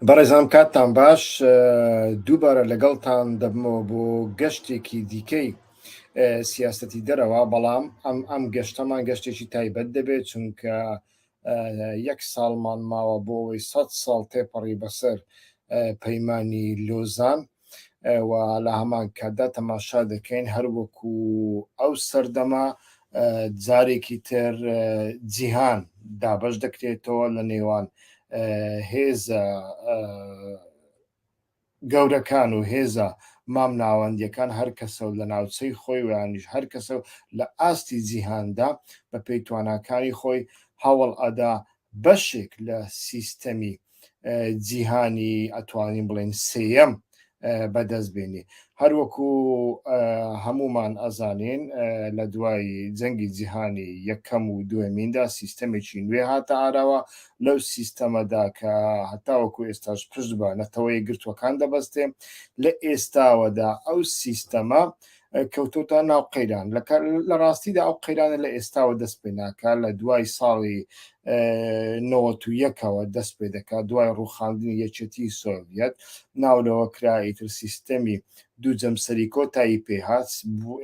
بەڕێزان کاتتان باش دووبارە لەگەڵتان دەبمەوە بۆ گەشتێکی دیکەی سیاستی دەرەوە بەڵام ئەم ئەم گەشتەمان گەشتێکی تایبەت دەبێت چونکە یەک ساڵمان ماوە بۆ ئەوەی سە ساڵ تێپەڕی بەسەر پەیمانانی لۆزان و لە هەمان کاتدا تەماشا دەکەین هەر وەکو ئەو سەردەمە جارێکی تر جیهان دابش دەکرێتەوە لە نێوان هێزە گەورەکان و هێزە مام ناوەندیەکان هەر کەسە و لە ناوچەی خۆی ویانیش هەر کەسە و لە ئاستی جیهاندا بە پێی تواناکانی خۆی هەوڵ ئەدا بەشێک لە سیستەمی جیهانی ئەتوانین بڵێن سێیەم بەدەست بێنێ هەروەکو هەمومان ئەزانین لە دوای جەنگی جیهانی یەکەم و دوێمیندا سیستەمێکی نوێ هاتە ئاراوە لەو سیستەمەدا کە هەتاوەکو ئێستاش پشت بە نەتەوەی گرتوەکان دەبەستێ لە ئێستاوەدا ئەو سیستەمە کەوتۆتە ناو قەیران لە ڕاستیدا ئەو قەیرانە لە ئێستاوە دەست پێ ناکە لە دوای ساڵی نەوەتویەکەوە دەست پێ دەکات دوای ڕوخاندنی یەکێتی سۆڤەت ناولەوە کرایتر سیستەمی دوو جەمسەری کۆتایی پێهات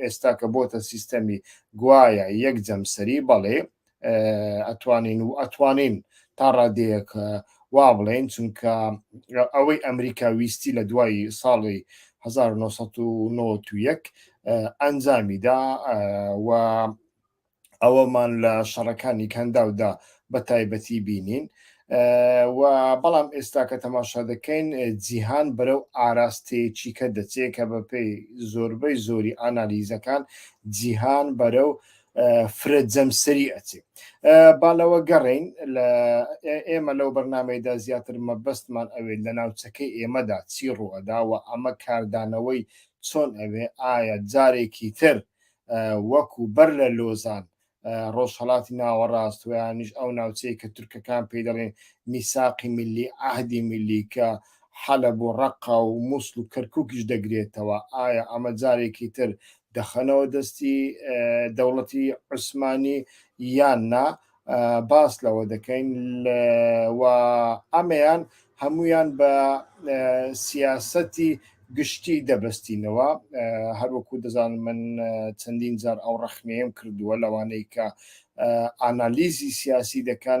ئێستا کە بۆتە سیستەمی گوایە یەک جەمسەری بەڵێ ئەتوانین و ئەتوانین تا ڕادەیەک وا بڵێن چونکە ئەوەی ئەمریکا ویستی لە دوای ساڵی 1991 ئەنجامیدا و ئەوەمان لە شەڕەکانی کەنداودا بە تایبەتی بینین و بەڵام ئێستا کە تەماشا دەکەین جیهان بەرەو ئاراستەیەکی کە دەچێت کە بەپێی زۆربەی زۆری ئانالیزەکان جیهان بەرەو فرە جەمسەری ئەچێ بالەوە گەڕین لە ئێمە لەو بەرنمەیدا زیاتر مەبەستمان ئەوێت لە ناوچەکەی ئێمەدا چی ڕوەداوە ئەمە کاردانەوەی چۆن ئەوێ ئایا جارێکی تر وەکو بەر لە لۆزان ڕۆژهڵاتی ناوەڕاست ویانیش ئەو ناوچەیە کە تورکەکان پێی دەڵێن میساقی ملی عهدی ملی کە حەلە بۆ ڕقا و مووسل و کەرککیش دەگرێتەوە ئایا ئەمە جارێکی تر دەخەنەوە دەستی دەوڵەتی عوسمانی یان نا باس لەوە دەکەین و ئەمەیان هەمویان بە سیاسەتی گشتی دەبەستینەوە هەروەکو دەزان من چەندین جار ئەو ڕەخنەیەم کردووە لەوانەی کە ئانالیزی سیاسی دەکەن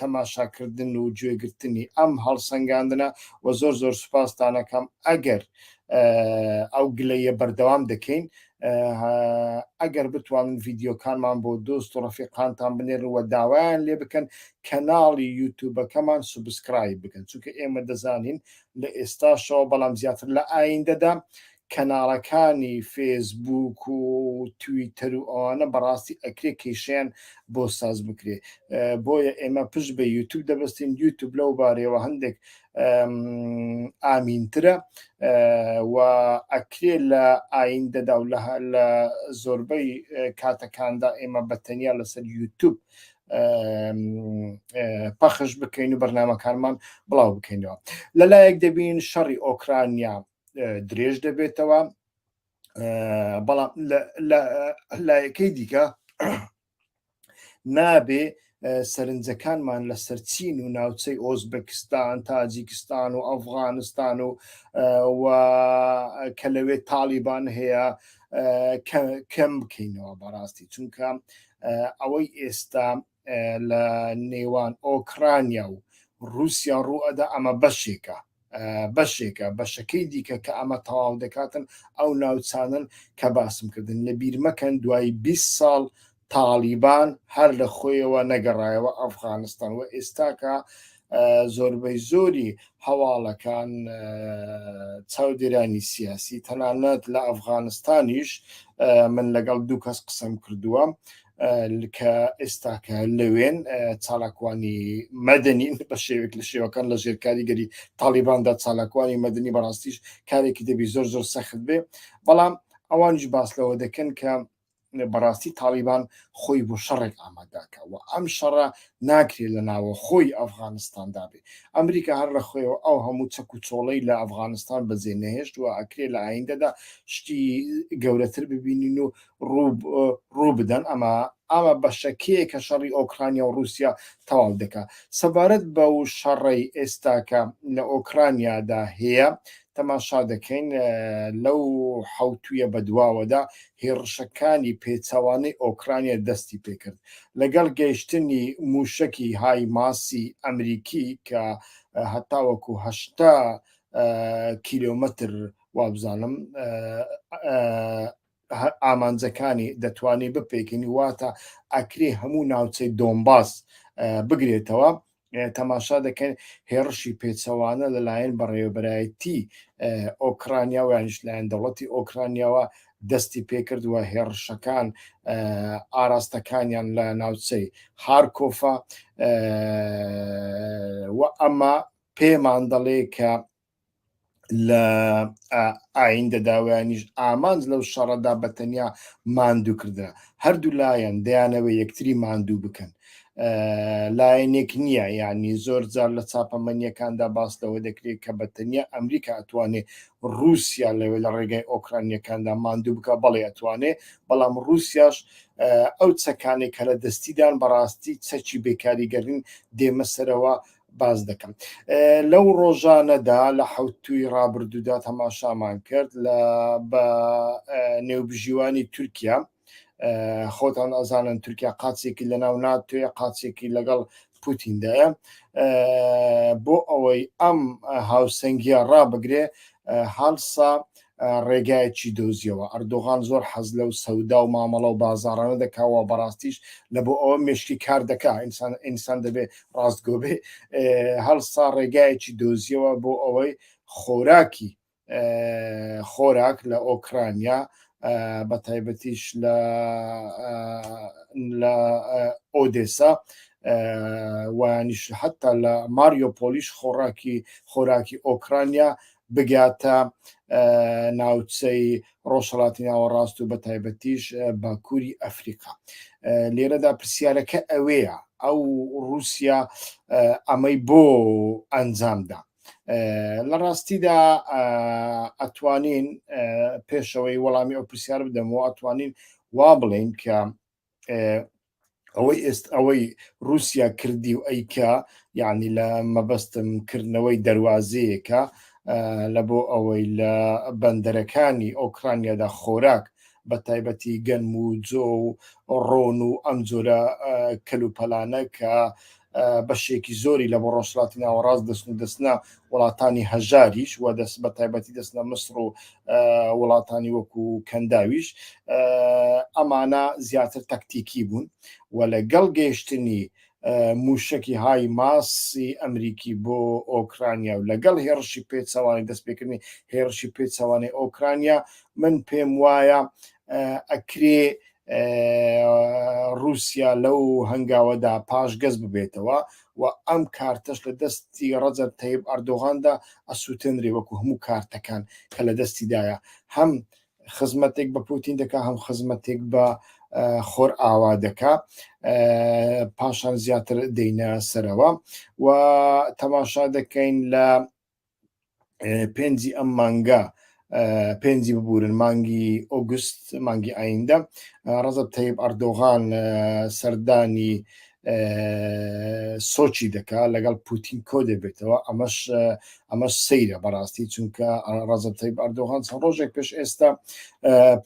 تەماشاکردن و گوێگرتنی ئەم هەڵسەنگاندنە و زۆر زۆر سوپاستانەکەم ئەگەر ئەو گلەیە بەردەوام دەکەین ئەگەر بتوانن ڤیددیوکانمان بۆ دۆست و ڕفیقانتان بنێرەوە داوایان لێ بکەن کەناڵی یوتوبەکەمان سوبسکرای بکەن چونکە ئێمە دەزانین لە ئێستاشەوە بەڵام زیاتر لە ئایندەدا کەناڵەکانی فێسبووک و تویتەر و ئەوانە بەڕاستی ئەکرێ کێشیان بۆ ساز بکرێ بۆیە ئێمە پشت بە یوتوب دەبستین یوتوب لەو بارەوە هەندێک ئامینترە و ئەکرێ لە ئایندەدا و لە زۆربەی کاتەکاندا ئێمە بەتەنیا لەسەر یوتوب پەخش بکەین و بەرنمەکانمان بڵاو بکەینەوە لەلایەک دەبین شەڕی ئۆکرانیا درێژ دەبێتەوە بەڵام لایەکەی دیکە نابێ سەرنجەکانمان لە سەرچین و ناوچەی ئۆزبکستان تاجیکستان و ئەفغانستان و کە لەوێ تاالبان هەیە کەم بکەینەوە بەڕاستی چونکە ئەوەی ئێستا لە نێوان ئۆکرانیا و رووسیا ڕووئەدا ئەمە بەشێکە بەشێکە بەشەکەی دیکە کە ئەمە تەواو دەکاتن ئەو ناوچانن کە باسم کردن لە بیرمەکەن دوای 20 ساڵ تاالیبان هەر لە خۆیەوە نەگەڕایەوە ئەفغانستان و ئێستاکە زۆربەی زۆری هەواڵەکان چاودێرانی سیاسی تەنانەت لە ئەفغانستانیش من لەگەڵ دوو کەس قسەم کردووە کە ئێستاکە لەوێن چالاکوانی مەدەنی بە شێوێک لە شێوەکان لە ژێر کاریگەری تاالباندا چالاکوانی مەدەنی بەڕاستیش کارێکی دەبی زۆر زۆر سەخت بێ بەڵام ئەوانش باس لەوە دەکەن کە بەڕاستی تاڵیبان خۆی بۆ شەڕێک ئامادەکە و ئەم شەڕە ناکرێت لە ناوەخۆی ئەفغانستاندا بێ ئەمریکا هەر لە خۆیەوە ئەو هەموو چەک و چۆڵەی لە ئەفغانستان بەجێ نەهێشت و ئەکرێ لە ئایندەدا شتی گەورەتر ببینین و ڕوو بدەن ئەمە ئاوا بەشەکەیە کە شەڕی ئۆکرانیا و رووسیا تەواو دەکە سەبارەت بە و شەڕی ئێستاکە لە ئۆکرانیادا هەیە تەماشا دەکەین لەو حەوتوویە بەدواوەدا هێڕشەکانی پێچەوانەی ئۆکرانیا دەستی پێکرد لەگەڵ گەیشتنی مووشەکی های ماسی ئەمریکی کە هەتاوەکو هەشتا کیلۆمەتر وابزانم ئامانجەکانی دەتوانێت بپێکین واتە ئەکرێ هەموو ناوچەی دۆمباس بگرێتەوە تەماشا دەکەن هێڕشی پێچەوانە لەلایەن بەڕێوەبەرایەتی ئۆکرانیا و یانش لایەن دەوڵەتی ئۆکرانیاوە دەستی پێکردووە هێڕشەکان ئاراستەکانیان لە ناوچەی هارکۆفا و ئەمە پێمان دەڵێ کە لە ئایندە داوایانیش ئامانج لەو شەڕەدا بە تەنیا ماندوو کردە هەردوو لایەن دەیانەوە یەکتری ماندوو بکەن لایەنێک نییە یعنی زۆر جار لە چاپەمەنیەکاندا باس لەوە دەکرێت کە بە تەنیا ئەمریکا ئەتوانێت رووسیا لەوێ لە ڕێگای ئۆکرانیەکاندا ماندوو بکە بەڵێ ئەتوانێت بەڵام رووسیاش ئەو چەکانێک کە لە دەستیدان بەڕاستی چەکی بێکاریگەرین دێمە سەرەوە باز دەکەم لەو ڕۆژانەدا لە حوتوی ڕابردوودا تەماشامان کرد لە بە نێوبژیوانی تورکیا خۆتان ئەزانن تورکیا قاچێکی لە ناو ناتوێ قاچێکی لەگەڵ پوتیندایە بۆ ئەوەی ئەم هاوسەنگیە ڕابگرێ هەڵسا ڕێگایەکی دۆزیەوە. ئەردۆغان زۆر حەز لەو سەودا و مامەڵە و بازاڕانە دەکا و بەڕاستیش لە بۆ ئەوە مێشکی کار دەکا. ئینسان ئینسان دەبێ ڕاستگۆ بێ. هەڵسا ڕێگایەکی دۆزیەوە بۆ ئەوەی خۆراکی خۆراک لە ئۆکرانیا بە تایبەتیش لە لە ئۆدێسا وانیش حتا لە ماریۆپۆلیش خۆراکی خۆراکی ئۆکرانیا بگاتە ناوچەی ڕۆژهڵاتی ناوەڕاست و بە تایبەتیش باکووری ئەفریقا لێرەدا پرسیارەکە ئەوەیە ئەو رووسیا ئەمەی بۆ ئەنجامدا لە ڕاستیدا ئەتوانین پێشەوەی وەڵامی ئەو پرسیار بدەمەوە ئەتوانین وا بڵێن کە ئەوەی ئێست ئەوەی رووسیا کردی و ئەیکا یعنی لە مەبەستم کردنەوەی دەواازەیەکە لە بۆ ئەوەی لە بەندەرەکانی ئۆکرانیادا خۆراک بە تایبەتی گەنم و جۆ و ڕۆن و ئەم جۆرە کەلوپەلانە کە بەشێکی زۆری لە بۆ ڕۆژهەڵاتی ناوەڕاست دەچن و دەچنە وڵاتانی هەژاریش و دەست بە تایبەتی دەستنە مصر و وڵاتانی وەکو کەنداویش ئەمانە زیاتر تەکتیکی بوون و لەگەڵ گەیشتنی موشکی های ماسی ئەمریکی بۆ ئۆکرانیا و لەگەڵ هێڕشی پێچوانی دەستپێکردنی هێڕشی پێچوانی ئۆکرانیا من پێم وایە ئەکرێ ڕوسیا لەو هەنگاوەدا پاشگەز ببێتەوە و ئەم کارتەش لە دەستی ڕەجەب تەیب ئەردۆغاندا ئەسووتێنرێ وەکو هەموو کارتەکان کە لە دەستیدایە هەم خزمەتێک بە پوتین دەکا هەم خزمەتێک بە خۆر ئاوا دەکا پاشان زیاتر دەینە سەرەوە و تەماشا دەکەین لە پێنجی ئەم مانگە پێنجی ببورن مانگی ئۆگوست مانگی ئایندە ڕزب تەیب ئەردۆغان سەردانی سۆچی دەکا لەگەڵ پوتین کۆ دەبێتەوە ئەمەش ئەمەش سەیرە بەڕاستی چونکە ڕزب تەیب ئەردۆغان چەند ڕۆژێک پێش ئێستا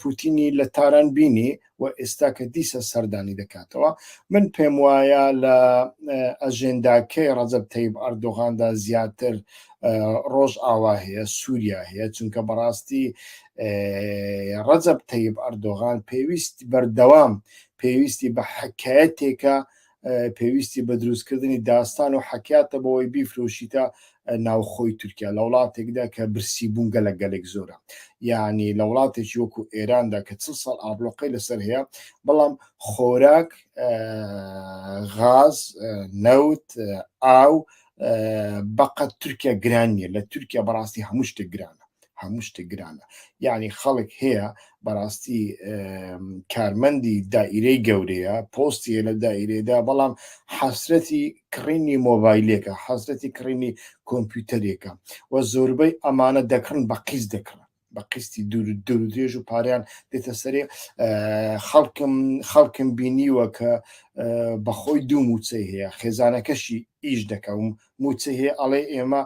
پوتینی لە تاران بینی و ئێستا کە دیسە سەردانی دەکاتەوە من پێم وایە لە ئەژێنداکەی ڕەجەب تەیب ئەردۆغاندا زیاتر ڕۆژ ئاوا هەیە سووریا هەیە چونکە بەڕاستی ڕەجەب تەیب ئەردۆغان پێویست بەردەوام پێویستی بە حکایەتێکە پێویستی بە دروستکردنی داستان و حەکاتە بەوەی بیفرۆشیتە ناوخۆی تورکیا لە وڵاتێکدا کە برسی بوون گەلە گەلێک زۆرە یعنی لە وڵاتێکی وەکو ئێراندا کە چ ساڵ ئابلۆقەی لەسەر هەیە بەڵام خۆراک غاز نەوت ئاو بەقەت تورکیا گران نیە لە تورکیا بەڕاستی هەموو شتێک گرانە هەموو شتێک گرانە یعنی خەڵک هەیە بەڕاستی کارمەندی دائیرەی گەورەیە پۆستیە لە دائیرێدا بەڵام حەسرەتی کڕینی مۆبایلێکە حەسرەتی کڕینی کۆمپیوتەرێکە و زۆربەی ئەمانە دەکڕن بە قیز دەکڕن بە قستی دوور دوور درێژ و پاریان دێتە سەرێ خەڵکم خەڵکم بینیوە کە بەخۆی دوو موچەی هەیە خێزانەکەشی ئیش دەکەم موچە هەیە ئەڵێ ئێمە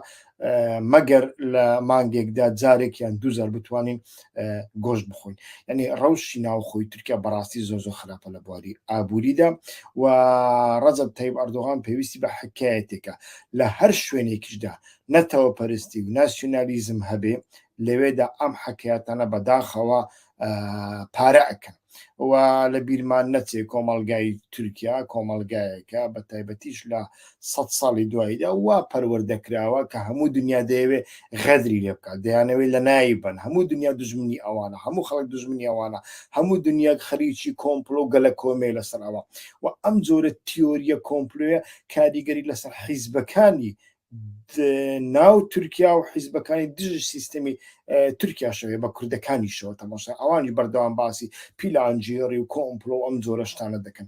مەگەر لە مانگێکدا جارێک یان دوزار بتوانین گۆشت بخۆین ینی ڕەوشی ناوخۆی تورکیا بەڕاستی زۆ زۆ خراپە لە بواری ئابووریدا و ڕەزب تەیب ئەردۆغان پێویستی بە حکایەتێکە لە هەر شوێنێکیشدا نەتەوە پەرستی و ناسیۆنالیزم هەبێ لەوێدا ئەم حکایەتانە بەداخەوە پارە ئەکەن و لە بیرمان نەچێ کۆمەڵگای تورکیا کۆمەڵگایەکە بە تایبەتیش لە سە ساڵی دواییدا وا پەروەردەکراوە کە هەموو دنیا دەیەوێ غەدری لێ بکات دەیانەوەی لە نایی بن هەموو دنیا دژمنی ئەوانە هەموو خەڵک دژمنی ئەوانە هەموو دنیا خەریکی کۆمپلۆ و گەلە کۆمێ لەسەرەوە و ئەم جۆرە تیۆریە کۆمپلوێ کاریگەری لەسەر حیزبەکانی ناو تورکیا و حیزبەکانی دژ سیستمی تورکیا شەوێ بە کوردەکانی شەوە تەماشا ئەوانی بەردەوام باسی پیلانجیێڕی و کۆمپلۆ ئەم جۆرەشتانە دەکەن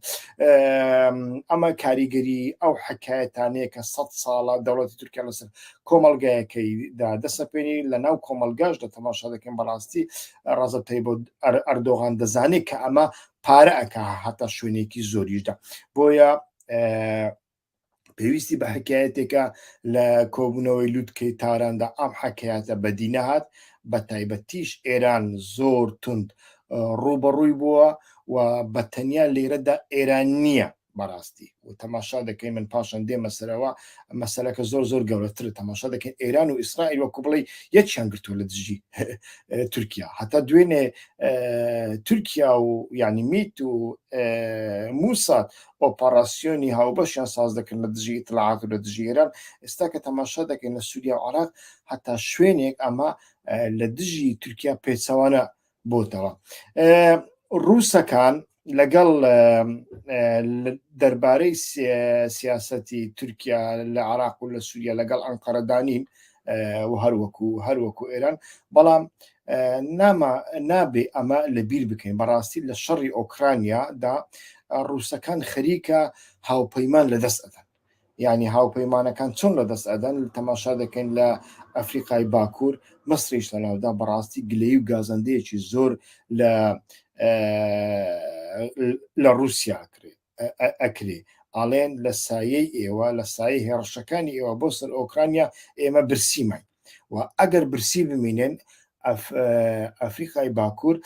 ئەمە کاریگەری ئەو حکایەتانەیە کە سە ساڵە دەوڵەتی تورکیا لەسەر کۆمەلگایەکەی دا دەسەپێنی لە ناو کۆمەلگاش دە تەماشا دەکەن بەڕاستی ڕازەتەی بۆ ئەردۆغان دەزانێت کە ئەمە پارە ئەک هەتا شوێنێکی زۆریشدا بۆیە پێویستی بە حکایەتێکە لە کۆبوونەوەی لوتکەی تاراندا ئەم حکایەتە بەدی نەهات بە تایبەتیش ئێران زۆر تند ڕوبەڕووی بووە و بە تەنیا لێرەدا ئێران نییە بەڕاستی و تەماشا دەکەین من پاشان دێمە سەرەوە مەسلەکە زۆر زۆر گەورەتر تەماشا دەکەن ئێران و ئیسرائیل وەکو بڵێ یەکیان گرتووە لە دژی تورکیا هەتا دوێنێ تورکیا و ینی میت و موسات ئۆپەڕاسیۆنی هاوبەشیان ساز دەکەن لە دژی ئیتلاعات و لە دژی ئێران ئێستا کە تەماشا دەکەین لە سووریا و عێراق هەتا شوێنێک ئەمە لە دژی تورکیا پێچەوانە بۆتەوە ڕووسەکان لەگەڵ دەربارەی سیاسەتی تورکیا لە عراق و لە سووریا لەگەڵ ئەنقەرەدانین و هەروەکو هەروەکو ئێران بەڵام ناما نابێ ئەمە لە بیر بکەین بەڕاستی لە شەڕی ئۆکرانیادا ڕووسەکان خەریکە هاوپەیمان لە دەست ئەدەن ینی هاوپەیمانەکان چۆن لە دەست ئەدەن تەماشا دەکەین لە ئەفریقای باکوور مەسریش لەناودا بەڕاستی گلەی و گازەندەیەکی زۆر لە لە رووسیا کرێت ئەکرێ ئەڵێن لە سایەی ئێوە لە سایەی هێڕشەکانی ئێوە بۆ سەر ئۆکرانیا ئێمە برسیمان و ئەگەر برسی بمینێن ئەفریقای باکوور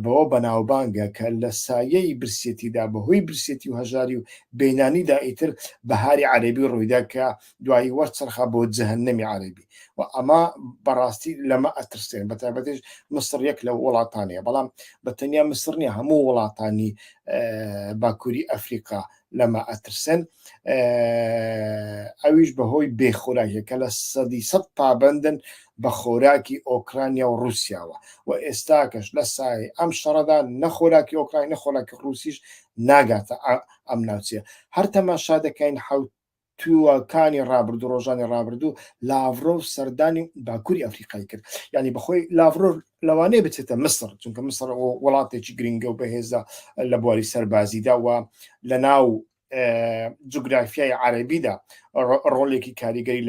بەوە بەناوبانگە کە لە سایەی برسێتیدا بەهۆی برسێتی و هەژاری و بینانیدا ئیتر بەهاری عەربی ڕوویدا کە دوایی وەرچەرخا بۆ جەهەنەمی عەرەبی و ئەمە بەڕاستی لەمە ئەترسێن بە تایبەتش مسڕ یەک لە وڵاتانەیە بەڵام بە تەنیا مسرنی هەموو وڵاتانی باکووری ئەفریقا لەمە ئەترسن ئەویش بەهۆی بێخۆراکەکە لە سەدی سەد پابندن بە خۆراکی ئۆکرانیا و رووسیاوە و ئێستاکەش لە سای ئەم شەڕەدا نەخۆراکی ئۆکراین نەخۆراکی رووسیش ناگاتە ئەم ناوچەیە هەر تەماشا دەکەین حوت تووەکانی ڕابردوو ڕۆژانی ڕابردوو لاڤرۆڤ سەردانی باکووری ئەفریقای کرد یعنی بەخۆی لاڤرۆڤ لەوانەیە بچێتە مصر چونکە مصر وڵاتێکی گرنگە و بەهێزە لە بواری سەربازیدا و لە ناو جوگرافیای عربیدا ڕۆلێکی کاریگەری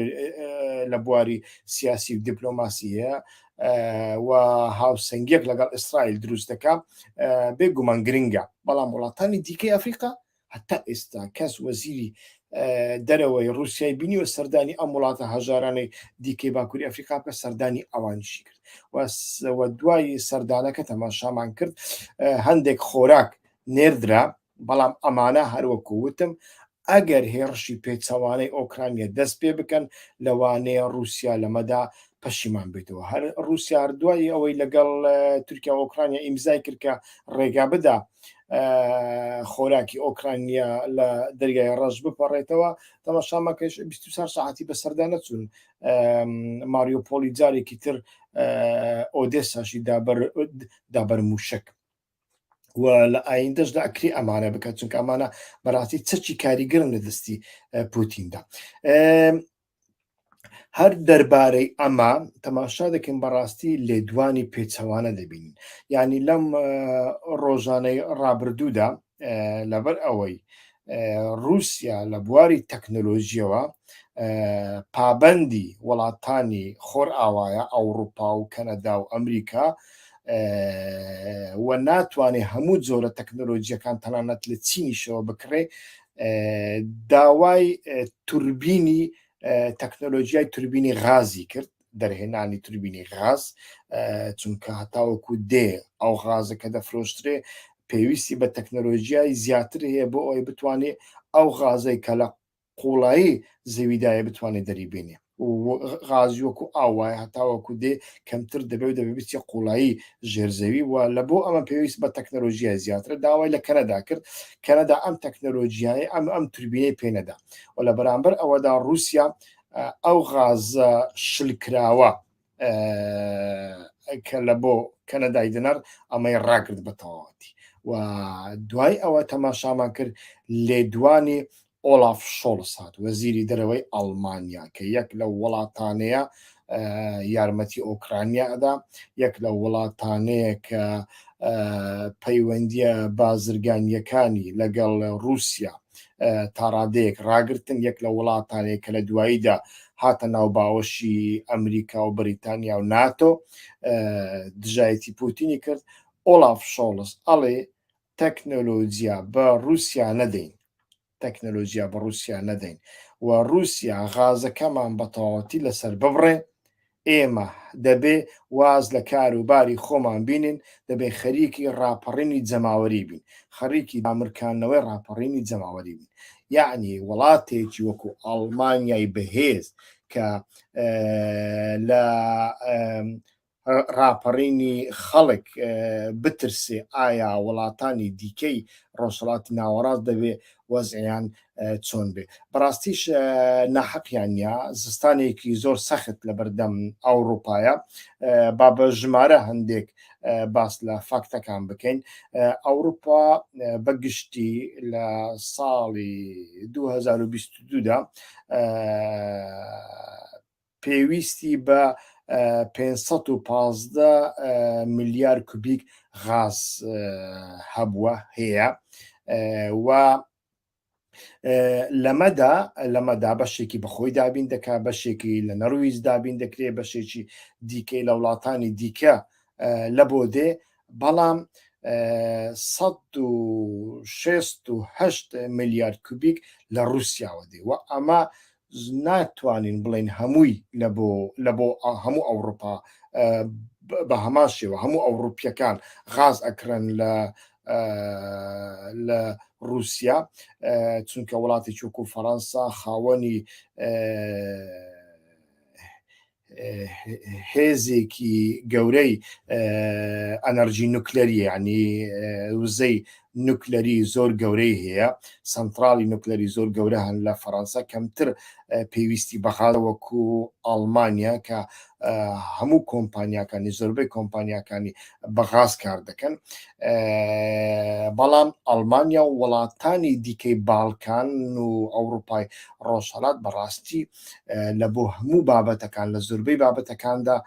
لە بواری سیاسی و دیپلۆماسی هەیە و هاوسنگیەک لەگەڵ ئیسرائیل دروست دەکە بێگومان گرنگە بەڵام وڵاتانی دیکەی ئەفریقا هەتا ئێستا کەس وەزیری دەرەوەی رووسای بینیوە سەردانی ئەم وڵاتە هەژارانەی دیکەی باکووری ئەفریقا بکە سەردانی ئەوانشی کرد وە دوای سەردانەکە تەماشامان کرد هەندێک خۆراک نێردرا بەڵام ئەمانە هەروەکو وتم ئەگەر هێڕشی پێچەوانەی ئۆکرانیا دەست پێ بکەن لەوانەیە رووسیا لەمەدا پەشیمان بیتەوە هەر رووسیا هەردوای ئەوەی لەگەڵ تورکیا ئۆکرانیا ئیمزای کردکە ڕێگا بدا خۆراکی ئۆکرانیا لە دەریای ڕەش بپەڕێتەوە تەماشامەکەش 24 ساعتی بەسەردا نەچوون ماریۆپۆلی جارێکی تر ئۆدێساشی دابەر دابەر موشک و لە ئایندەش لە ئەکری ئەمانە بکە چونکە ئەمانە بەڕاستی چەکی کاریگەرم لە دەستی پوتیندا هەر دەربارەی ئەمە تەماشا دەکەین بەڕاستی لێدوانی پێچەوانە دەبین ینی لەم ڕۆژانەی ڕابردوودا لەبەر ئەوەی رووسیا لە بواری تەکنۆلۆژیەوە پابەندی وڵاتانی خۆر ئاوایە ئەوروپا و کەنەدا و ئەمریکا و ناتوانێت هەموو جۆرە تەکنۆلۆژیەکان تەنانەت لە چینیشەوە بکڕێ داوای توربینی تەکنۆلۆژیای توربینی غازی کرد دەرهێنانی توربینی غاز چونکە هەتاوەکو دێ ئەو غازە کە دەفرۆشترێ پێویستی بە تەکنۆلۆژیای زیاتر هەیە بۆ ئەوی بتوانێت ئەو غازەی کە لە قوڵایی زەویدایە بتوانێت دەریبینێ غازی وەکو ئاو وایە هەتاوەکو دێ کەمتر دەبێ و دەبێ بچێ قوڵایی ژێرزەوی و لە بۆ ئەمە پێویست بە تەکنەلۆژیای زیاترە داوای لە کەنەدا کرد کەنەدا ئەم تەکنەلۆژیای ئەم ئەم توربینەی پێنەدا و لە بەرامبەر ئەوەدا رووسیا ئەو غازە شلکراوە کە لە بۆ کەنەدای دنەر ئەمەی ڕاگرت بە تەواتی و دوای ئەوە تەماشامان کرد لێدوانی ئۆلاف شۆڵس هات وەزیری دەرەوەی ئەڵمانیا کە یەک لە وڵاتانەیە یارمەتی ئۆکرانیا ئەدا یەک لە وڵاتانەیە کە پەیوەندیە بازرگانیەکانی لەگەڵ رووسیا تاڕادەیەک ڕاگرتن یەک لە وڵاتانێک کە لە دواییدا هاتە ناو باوەشی ئەمریکا و بەریتانیا و ناتۆ دژایەتی پوتینی کرد ئۆلاف شۆڵس ئەڵێ تەکنەلۆجییا بە رووسیا نەدەین تەکنەلۆژیا بە رووسیا نەدەین و رووسیا غازەکەمان بەتەواوەتی لەسەر ببڕێ ئێمە دەبێ واز لە کار و باری خۆمان بینین، دەبێ خەریکی ڕاپەڕینی جەماوەری بین، خەڕیکی دامرکاندنەوەی ڕاپەڕینی جەماوەری بین. یەعنی وڵاتێکی وەکوو ئاڵمانیای بەهێز کە لە ڕاپەڕینی خەڵک بترسێ، ئایا وڵاتانی دیکەی ڕۆژهەڵاتی ناوەڕاست دەبێ وەزعیان چۆن بێ بەڕاستیش ناحەقیان نیە زستانێکی زۆر سەخت لە بەردەم ئەوروپایە با بە ژمارە هەندێک باس لە فاکتەکان بکەین ئەوروپا بەگشتی لە ساڵی 2022دا پێویستی بە 515 ملیار کوبیک غاز هەبووە هەیە و لەمەدا لەمەدا بەشێکی بەخۆی دابین دەکات بەشێکی لە نەرویز دابین دەکرێت بەشێکی دیکەی لە وڵاتانی دیکە لە بۆ دێ بەڵام 16 میلیارد کوبیک لە رووسیاوە دێ و ئەمە ناتوانین بڵێین هەمووی لە بۆ لە بۆ هەموو ئەوڕوپا بە هەمان شێوە هەموو ئەوڕوپیەکان غاز ئەکرن لە لە رووسیا چونکە وڵاتی چووکو فەەنسا خاوەنی هێزێکی گەورەی ئەنەرژی نوکلەری ینی وزەی نوکلەری زۆر گەورەی هەیە سنترالی نوکلەری زۆر گەورە هەن لە فەەنسا کەمتر پێویستی بەخاڵە وەکو ئەڵمانیا کە هەموو کۆمپانیاکانی زۆربەی کۆمپانیاکانی بەغاز کار دەکەن بەڵام ئەڵمانیا و وڵاتانی دیکەی باڵکان و ئەوروپای ڕۆژهڵات بەڕاستی لە بۆ هەموو بابەتەکان لە زۆربەی بابەتەکاندا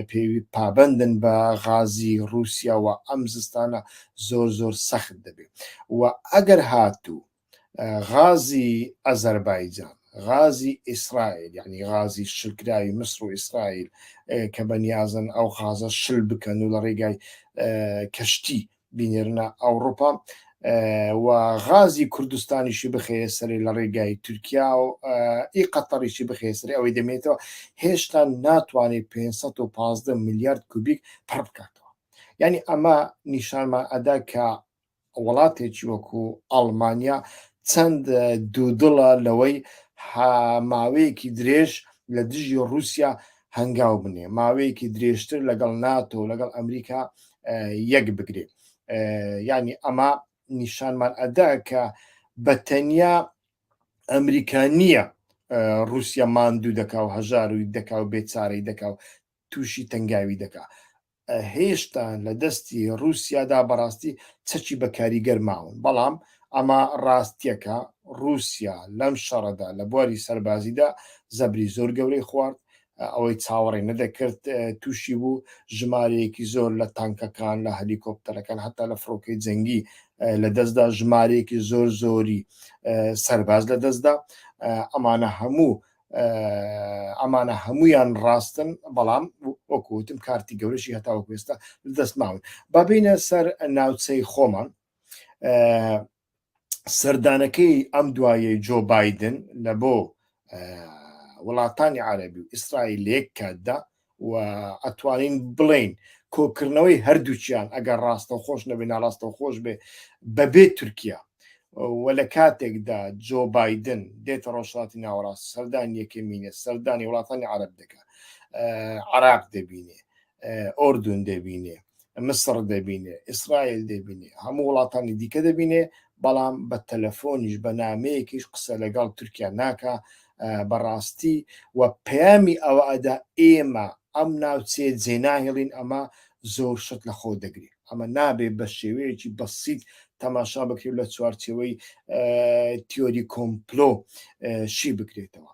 پێ پابندن بە غازی رووسیاوە ئەم زستانە زۆر زۆر سەخت دەبێت و ئەگەر هاتوو غازی ئەزەربایجان غازی ئیسرائیل یعنی غازی شکراوی مصر و ئیسرائیل کە بەنیازن ئەو غازە شل بکەن و لە ڕێگای کەشتی بینێرنە ئەوروپا و غازی کوردستانیشی بخەیە سەری لە ڕێگای تورکیا و ئی قەتەڕیشی بخەیە سەری ئەوەی دەمێتەوە هێشتا ناتوانێت 515 میلیارد کوبیک پڕ بکاتەوە یعنی ئەمە نیشانمان ئەدا کە وڵاتێکی وەکو ئەڵمانیا چەند دوودڵە لەوەی ماوەیەکی درێژ لە دژی رووسیا هەنگاو بنێ ماوەیەکی درێژتر لەگەڵ ناتۆ لەگەڵ ئەمریکا یەک بگرێ ینی ئەمە نیشانمان ئەدا کە بە تەنیا ئەمریکا نییە رووسیا ماندوو دەکا و هەژار و دەکا و بێچارەی دەکا و تووشی تەنگاوی دەکا هێشتا لە دەستی ڕووسیادا بەڕاستی چەکی بە کاریگەر ماون، بەڵام ئەمە ڕاستییەکە، ڕووسیا لەم شەڕەدا لە بواری سەربازیدا زەبری زۆر گەورەی خوارد، ئەوەی چاوەڕێ نەدەکرد تووشی بوو، ژمارەیەکی زۆر لە تانکەکان، لە هەلیکۆپتەرەکان، هەتا لە فڕۆکەی جەنگی لە دەستدا، ژمارەیەکی زۆر زۆری سەرباز لە دەستدا، ئەمانە هەموو ئەمانە هەمویان ڕاستن بەڵام وەکوتم کارتی گەورەشی هەتا وەکوێستا دەست ماون بابینە سەر ناوچەی خۆمان سەردانەکەی ئەم دوایە جۆ بادن لە بۆ وڵاتانی عربی و ئیسرائیل لەک کاتدا و ئەتوانین بڵین کۆکردنەوەی هەردووچیان ئەگەر ڕاستە خۆش نەبێ ناڕاستە خۆش بێ بەبێ تورکیا و لە کاتێکدا جۆ بادن دێتە ڕۆژهاتی ناوەڕاست سەردان یەکەمینە سەردانی وڵاتانی عرب دەکە عراق دەبینێ ئۆردون دەبینێ مسڕ دەبینێ، ئیسرائیل دەبینێ، هەموو وڵاتانی دیکە دەبینێ، بەڵام بە تەلەفۆنیش بە نامەیەکیش قسە لەگەڵ تورکیا ناکا بەڕاستی و پەیامی ئەوە ئەدا ئێمە ئەم ناوچێ جێناهێڵین ئەمە زۆر شت لە خۆ دەگری ئەمە نابێت بە شێوەیەکی بەسییت تەماشا بکرێت لە چوارچەوەی تیۆری کۆمپلۆ شی بکرێتەوە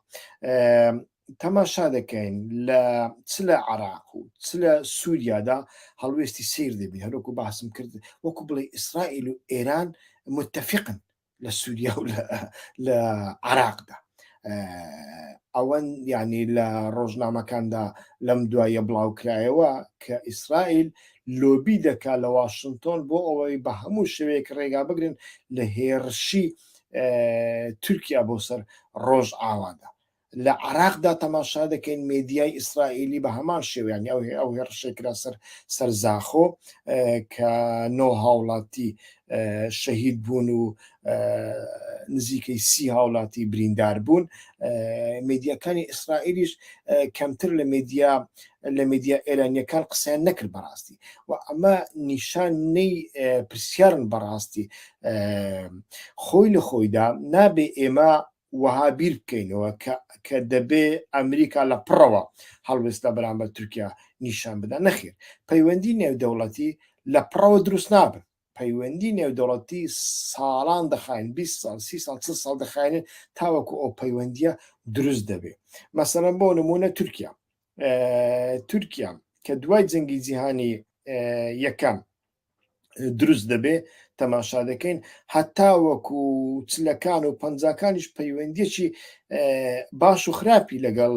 تەماشا دەکەین لە چ لە عراق و چ لە سووریادا هەڵوێستی سیر دەبین هەروەکو باسم کرد وەکو بڵێ ئیسرائیل و ئێران متتەفقن لە سووریا و لە عراقدا ئەوەن یعنی لە ڕۆژنامەکاندا لەم دوایە بڵاوکرایەوە کە ئیسرائیل لۆبی دەکا لە واشنگتۆن بۆ ئەوەی بە هەموو شوێک ڕێگا بگرن لە هێرشی تورکیا بۆ سەر ڕۆژ ئاوادا لە عێراقدا تەماشا دەکەین مێدیای ئیسرائیلی بە هەمان شێوە یانی ئەو ئەو هێڕشەی کرا سەر سەر زاخۆ کە نۆ هاوڵاتی شەهید بوون و نزیکەی سی هاوڵاتی بریندار بوون مێدیەکانی ئیسرائیلیش کەمتر لە مێدیا لە مێدیا ئێرانیەکان قسەیان نەکرد بەڕاستی و ئەمە نیشان نەی پرسیارن بەڕاستی خۆی لە خۆیدا نابێ ئێمە وەها بیر بکەینەوە کە کە دەبێ ئەمریکا لە پڕەوە هەڵوێست لە بەرامبەر تورکیا نیشان بدا، نەخێر، پەیوەندی نێودەوڵەتی لە پڕەوە دروست نابن، پەیوەندی نێودەوڵەتی ساڵان دەخایەن، بیست ساڵ، سی ساڵ، چل ساڵ دەخایەنێت تاوەکو ئەو پەیوەندییە دروست دەبێ. مەسەلەن بۆ نموونە تورکیا تورکیا کە دوای جەنگی جیهانی یەکەم دروست دەبێ تەماشا دەکەین هەتا وەکو چلەکان و پەنجاکانیش پەیوەندیەکی باش و خراپی لەگەڵ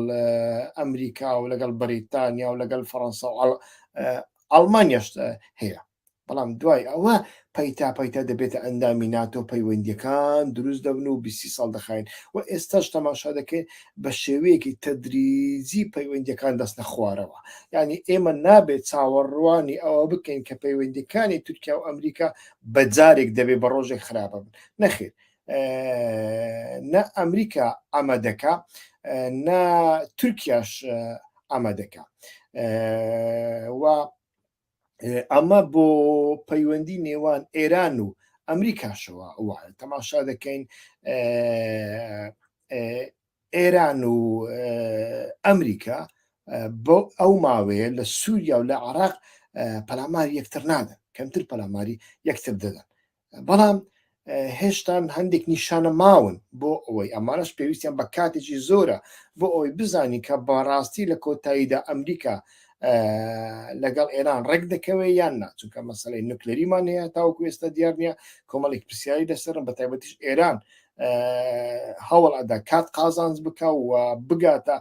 ئەمریکا و لەگەڵ بەریتانیا و لەگەڵ فەڕەنسا و ئەڵمانیاشتە هەیە بەڵام دوای ئەوە پەیتا پەیتا دەبێتە ئەندامی ناتۆ پەیوەندیەکان دروست دەبن و بیستی ساڵ دەخاین و ئێستاش تەماشا دەکەین بە شێوەیەکی تەدریجی پەیوەندیەکان دەستە خوارەوە ینی ئێمە نابێت چاوەڕوانی ئەوە بکەین کە پەیوەندیەکانی تورکیا و ئەمریکا بە جارێک دەبێ بە ڕۆژێک خراپە بن نەخێر نە ئەمریکا ئەمە دەکا نە تورکیاش ئەمە دەکا و ئەمە بۆ پەیوەندی نێوان ئێران و ئەمریکاشەوە وایە تەماشا دەکەین ئێران و ئەمریکا بۆ ئەو ماوەیە لە سووریا و لە عراق پەلامار یەکتر نادەن کەمتر پەلاماری یەکتر دەدەن بەڵام هێشتان هەندێک نیشانە ماون بۆ ئەوەی ئەمانش پێویستیان بە کاتێکی زۆرە بۆ ئەوەی بزانین کە بەڕاستی لە کۆتاییدا ئەمریکا لەگەڵ ئێران ڕێک دەکەوێت یان ناچونکە مەسلەی نوکلەریمان هەیە تاوەکو ئێستا دیار نیە کۆمەڵێک پرسیاری لەسەرم بە تایبەتیش ئێران هەوڵ ئەدا کات قازانز بکە و بگاتە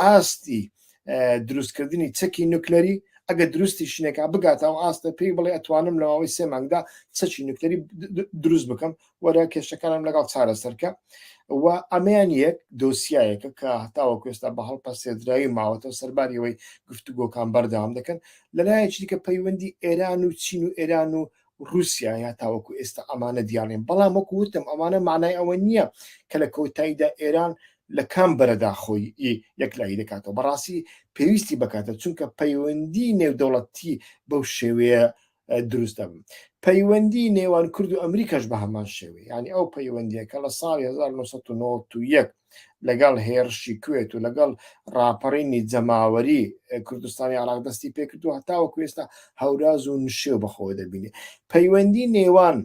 ئاستی دروستکردنی چەکی نوکلەری ئەگە دروستی شنێکا بگاتە ئەو ئاستە پێی بڵێ ئەتوانم لە ماوەی سێ مانگدا چەچی نوکتەری دروست بکەم وەرە کێشەکانم لەگەڵ چارەسەرکە و ئەمیان یەک دۆسیایەکە کە هەتاوە کوێستا بە هەڵپە سێدراوی ماوەتەوە سەرباریەوەی گفتوگۆکان بەردەوام دەکەن لەلایەکی دیکە پەیوەندی ئێران و چین و ئێران و روسیایە تاوەکو ئێستا ئەمانە دیارنین بەڵام وەکو وتم ئەمانە مانای ئەوە نییە کە لە کۆتاییدا ئێران لە کام بەرەدا خۆی یەکلایی دەکاتەوە بەڕاستی پێویستی بکاتە چونکە پەیوەندی نێودەوڵەتی بەو شێوەیە دروست دەبن پەیوەندی نێوان کورد و ئەمریکاش بە هەمان شێوەیە ینی ئەو پەیوەندیە کە لە ساڵی 1990 لەگەڵ هێڕشی کوێت و لەگەڵ ڕاپەڕینی جەماوەری کوردستانی عراق دەستی پێکردو هەتاوە کوێستا هەوراز و نشێ بەخۆ دەبینێ پەیوەندی نێوان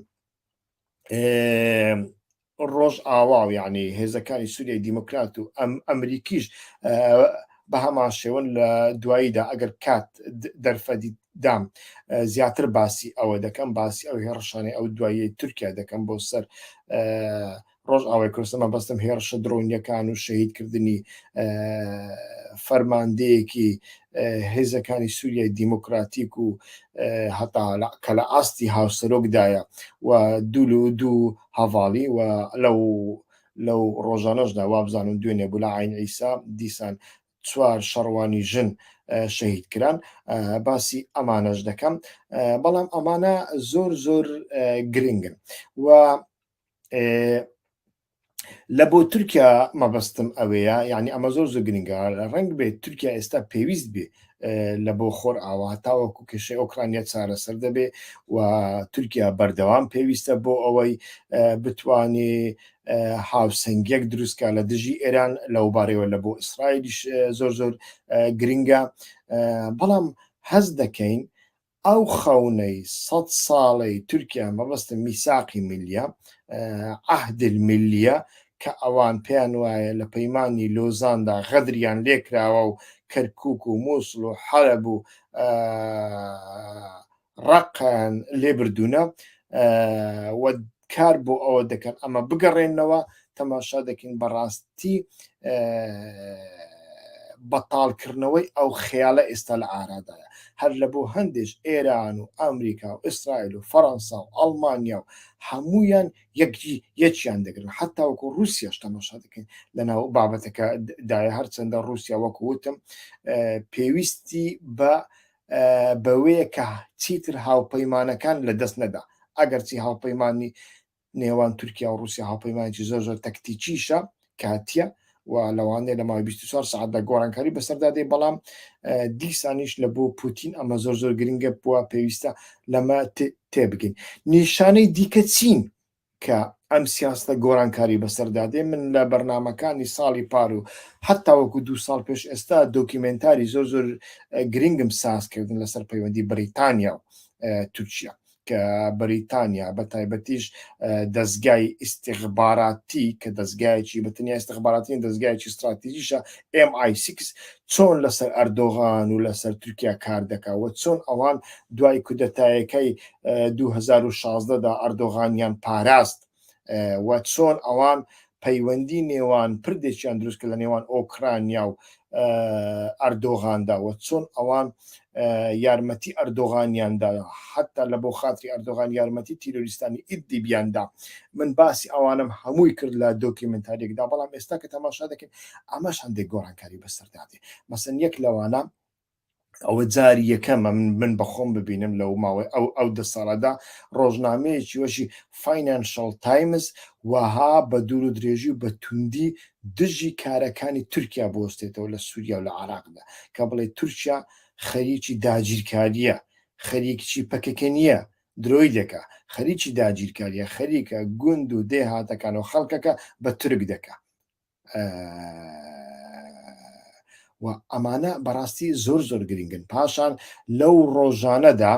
ڕۆژ ئاوا و یعنی هێزەکانی سووریای دیموکرات و ئەم ئەمریکیش بە هەمان شێوەن لە دواییدا ئەگەر کات دەرفەدی دام زیاتر باسی ئەوە دەکەم باسی ئەو هێڕشانەی ئەو دوایی تورکیا دەکەم بۆ سەر ڕۆژئاوای کوردستان مەبەستم هێڕشە درۆنیەکان و شەهیدکردنی فەرماندەیەکی هێزەکانی سووریای دیموکراتیک و هەتا کە لە ئاستی هاوسەرۆکدایە و دوول و دوو هەواڵی و لەو لەو ڕۆژانەشدا وابزانم دوێنێ بوو لە ئاین ئیسا دیسان چوار شەڕوانی ژن شەهید کران باسی ئەمانەش دەکەم بەڵام ئەمانە زۆر زۆر گرنگن و لە بۆ تورکیا مەبەستم ئەوەیە یعنی ئەمە زۆر زۆر گرنگە ڕنگ بێت تورکیا ئێستا پێویست بێ لە بۆ خۆر ئاوا تاوەکو کێشەی ئۆکرانیا چارەسەر دەبێ و تورکیا بەردەوام پێویستە بۆ ئەوەی بتانی هاوسنگێک دروستکە لە دژی ئێران لەو بارەوە لە بۆ ئیسرائیلیش زۆر زۆر گرنگە بەڵام هەز دەکەین ئەو خەونەی سەد ساڵەی تورکیا مەبەستم میساقی ملیە، عهد الملیە، کە ئەوان پێیان وایە لە پەیمانی لۆزاندا غەدریان لێکراوە و کەرکوک و موسڵ و حەلەب و ڕەققەیان لێبردوونە و کار بۆ ئەوە دەکەن ئەمە بگەڕێنەوە تەماشا دەکەین بەڕاستی بەتاڵکردنەوەی ئەو خەیاڵە ئێستا لە ئارادایە هەر لە بۆ هەندێش ئێران و ئەمریکا و ئیسرائیل و فەەنسا و ئەڵمانیا و هەمویان یەکی یەکیان دەگرن حتا وەکو رووسیاش تەماشا دەکەین لەناو بابەتەکە دای هەرچەندە رووسیا وەکو وتم پێویستی بە بەوەیە کە چیتر هاوپەیمانەکان لە دەست نەدا ئەگەرچی هاوپەیمانانی نێوان تورکیا و رووسیا هاوپەیمانێکی زۆر زۆر تەکتیکیشە کاتیە و لەوانەیە لە ماوەی 24 سعاتدا گۆڕانکاری بەسەردا دێ بەڵام دیسانیش لە بۆ پوتین ئەمە زۆر زۆر گرنگە بووە پێویستە لەمە تێبگەین نیشانەی دیکە چین کە ئەم سیاسەتە گۆڕانکاری بەسەردا دێ من لە بەرنامەکانی ساڵی پار و حەتا وەکو دوو ساڵ پێش ئێستا دۆکیمێنتاری زۆر زۆر گرنگم ساز کردن لەسەر پەیوەندی بریتانیا و تورکیا کە بەریتانیا بە تایبەتیش دەستگای ئیسیغباراتی کە دەستگایکی بەتنیا ئستخباراتی دەستگایکی استراتیژیشە MI6 چۆن لەسەر ئەردۆغان و لەسەر تورکیا کار دەکا و چۆن ئەوان دوای کودەتایەکەی دوو هەزار و شازدە دا ئەردۆغانیان پاراست و چۆن ئەوان پەیوەندی نێوان پردێکیان دروست کە لە نێوان ئۆکرانیا و ئەردۆغاندا و چۆن ئەوان یارمەتی ئەردۆغانیان دا حەتا لە بۆ خاتری ئەردۆغان یارمەتی تیرۆریستانی ئیدیبیان دا من باسی ئەوانم هەمووی کرد لە دۆکیمنتاریەکدا بەڵام ئێستا کە تەماشا دەکەین ئەمەش هەندێک گۆڕانکاری بەسەردادێ مەسن یەک لەوانە ئەوە جاری یەکەمە من من بەخۆم ببینم لەو ماوەی ئەو ئەو دە ساڵەدا ڕۆژنامەیەکی وەشی فینانشل تایمز وەها بە دوور و درێژی و بە توندی دژی کارەکانی تورکیا بوەستێتەوە لە سوریا و لە عێراقدا کە بڵێت تورکیا خەریکی داگیرکاریە خەریککی پەکەکە نیە درۆی دەکا خەریکی داگیرکاریە خەریکە گوند و دێهاتەکان و خەڵکەکە بە تورک دەکا وە ئەمانە بەڕاستی زۆر زۆر گرنگن پاشان لەو ڕۆژانەدا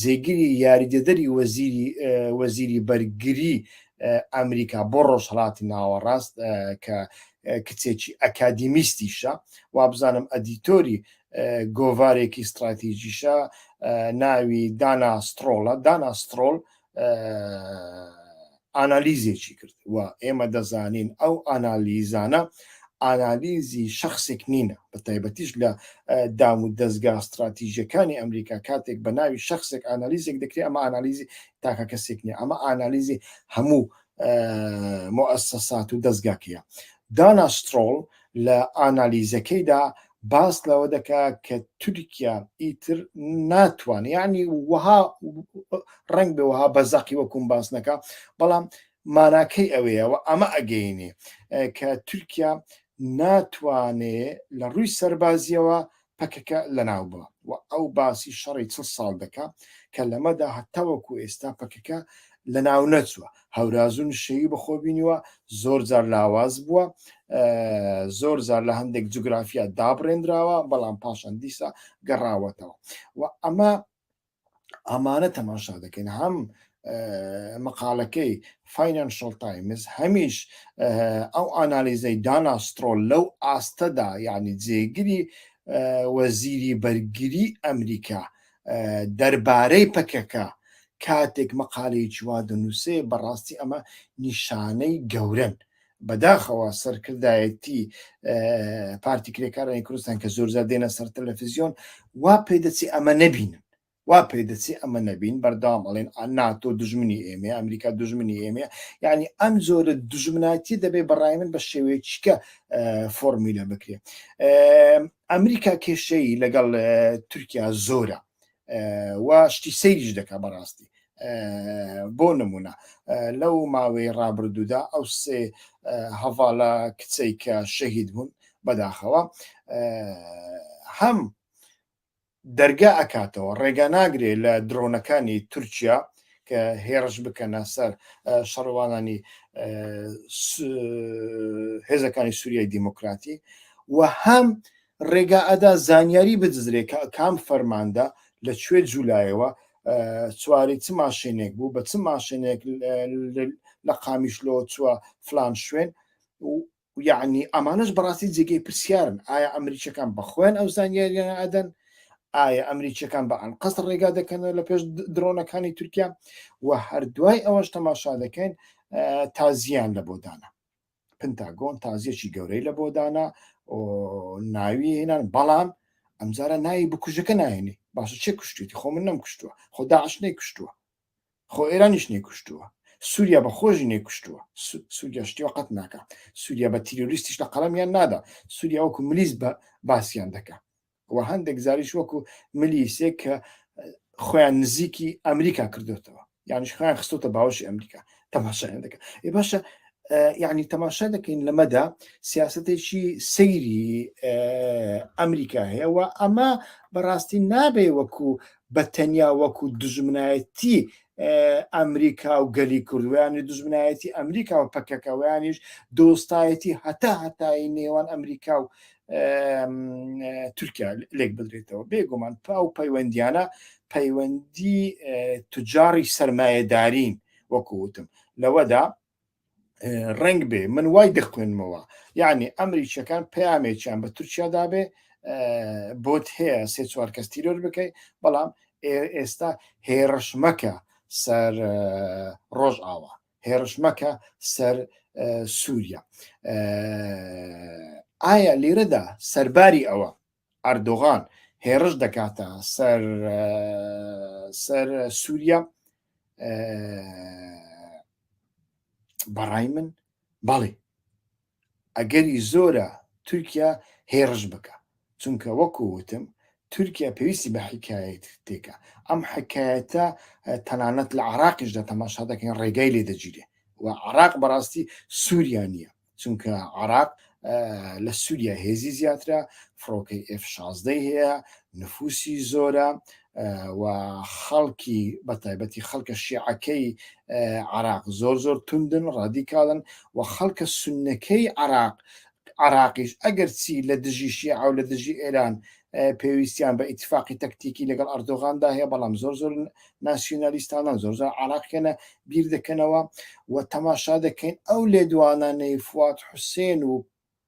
جێگیری یاریدەدەری وەزیری وەزیری بەرگری ئەمریکا بۆ ڕۆژهڵاتی ناوەڕاست کە کچێکی ئەکادیمیستیشە وابزانم ئەدیتۆری گۆڤارێکی استراتیژیشە ناوی دانا سترۆڵە دانا سترۆل ئانالیزێکی کرد و ئێمە دەزانین ئەو ئانالیزانە ئانالیزی شخصێک نینە بە تایبەتیش لە دام و دەستگا استراتیژەکانی ئەمریکا کاتێک بە ناوی شخصێک ئانالیزێک دەکرێت ئەمە ئانالیزی تاکە کەسێک نیە ئەمە ئانالیزی هەموو موئەسەسات و دەزگاکەیە. دانا سترۆڵ لە ئانالیزەکەیدا باس لەوە دەکا کە تورکیا ئیتر ناتوانێت یعنی وەها ڕنگ بێ وەها بە زەقی وەکوم باس نەکە بەڵام ماناکەی ئەوەیە و ئەمە ئەگەینێ کە تورکیا ناتوانێ لە ڕووی سەربازیەوە پەکەکە لەناوبا و ئەو باسی شەڕی چڵ ساڵ دەکا کە لەمەدا هەتاوەکو ئێستا پەکەکە لەناونەچوە هەورازو نشێوی بەخۆبینیوە زۆر جار لاواز بوە زۆر جار لە هەندێک جوگرافیا دابڕێنراوە بەڵام پاشان دیسا گەڕاوەتەوە و ئەمە ئەمانە تەماشا دەکەین هەم مقالەکەی فینەنشل تایمز هەمیش ئەو ئانالیزەی داناسترۆ لەو ئاستەدا یعنی جێگری وەزیری بەرگری ئەمریکا دەربارەی پەکەکە کاتێک مەقالەیەکی وا دەنووسێ بەڕاستی ئەمە نیشانەی گەورن بەداخەوە سەرکردایەتی پارتی کرێکارانی کوردستان کە زۆرزار دێنە سەر تەلەفیزیۆن وا پێدەچی ئەمە نەبینن وا پێ دەچێ ئەمە نەبین بەردام ئەڵێن ناتۆ دژمنی ئێمە ئەمریکا دژمنی ئێمە یعنی ئەم زۆرە دژمناتی دەبێ بەڕای من بە شێوەیەکە فۆرمیلە بکرێ ئەمریکا کێشەی لەگەڵ تورکیا زۆرە و شتی سەیریش دەکا بەڕاستی بۆ نمونە لەو ماوەی ڕابردوودا ئەو سێ هەڤاڵە کچەی کە شەهید بوون بەداخەوە هەم دەرگا ئەکاتەوە ڕێگا ناگرێ لە درۆنەکانی تورکیا کە هێڕش بکەنە سەر شەڕوانانی هێزەکانی سووریای دیموکراتی و هەم ڕێگا ئەدا زانیاری بدزرێ کە کام فەرماندە لە کوێ جوولایەوە سواری چ ماشێنێک بوو بە چ ماشێنێک لە قامیشلۆ چووە فلان شوێن یعنی ئەمانش بەڕاستی جێگەی پرسیارن ئایا ئەمریکەکان بەخۆیان ئەو زانیاریان ئەدەن ئایا ئەمریکیەکان بە ئەنقەست ڕێگا دەکەنەوە لە پێش درۆنەکانی تورکیا و هەردوای ئەوەش تەماشا دەکەین تازیان لە بۆدانە پنتاگۆن تازیەکی گەورەی لە بۆدانا ناوی هێنان بەڵام ئەمجارە ناوی بکوژەکە ناێنێ باشە چێ کوشتێتی خۆ من نەم کوشتووە خۆ داعش نەی کوشتووە خۆ ئێرانیش نەی کوشتووە سووریا بە خۆشی نەی کوشتووە سووریا شتیوە قەت ناکە سووریا بە تیرۆریستیش لە قەڵەمیان نادا سووریا وەکو ملیس بە باسییان دەکە و هەندێک جاریش وەکو ملی سێک کە خۆیان نزیکی ئەمریکا کردوێتەوە یانش خۆیان خستۆتە باوەشی ئەمریکا تەماشایان دەکە ئێ باشە یعنی تەماشا دەکەین لەمەدا سیاستێکی سەیری ئەمریکا هەیە و ئەمە بەڕاستی نابێ وەکو بە تەنیا وەکو دژمنایەتی ئەمریکا و گەلی کوردویانی دژمنایەتی ئەمریکا و پەکەکەوەیانیش دۆستایەتی هەتا هەتایی نێوان ئەمریکا و تورکیا لێک بدرێتەوە بێگومان پا و پەیوەندیانە پەیوەندی تجاری سرمایهدارین وەکوتم لەوەدا ڕنگ بێ من وای دەخوێنمەوە یعنی ئەمریکیەکان پامێکیان بە تورکیادا بێ بۆت هەیە سێ چوار کەس تیرۆر بکەیت بەڵام ئێستا هێڕش مەکە سەر ڕۆژ ئاوا هێرش مەکە سەر سووریا ئایا لێرەدا سەرباری ئەوە ئەردۆغان هێرش دەکاتە سەر سەر سووریا بەڕای من بەڵێ ئەگەری زۆرە تورکیا هێڕش بکا چونکە وەکو وتم تورکیا پێویستی بە حیکایەتێکە ئەم حیکایەتە تەنانەت لە عراقیش دە تەماشا دەکەین ڕێگای لێ دەگیرێ و عراق بەڕاستی سووریا نییە چونکە عراق لە سووریا هێزی زیاترە فڕۆکەی F16 هەیە نفوسی زۆرە و خەڵکی بە تایبەتی خەڵکە شیعەکەی عراق زۆر زۆر توندن ڕادیکاڵن و خەڵکە سنەکەی عراق عراقیش ئەگەر چی لە دژی شیعە و لە دژی ئێران پێویستیان بە ئیتفاقی تەکتیکی لەگەڵ ئەردۆغاندا هەیە بەڵام زۆر زۆر ناسیۆنالیستانە زۆر زۆر عراقیانە بیر دەکەنەوە و تەماشا دەکەین ئەو لێدوانانەی فوات حوسێن و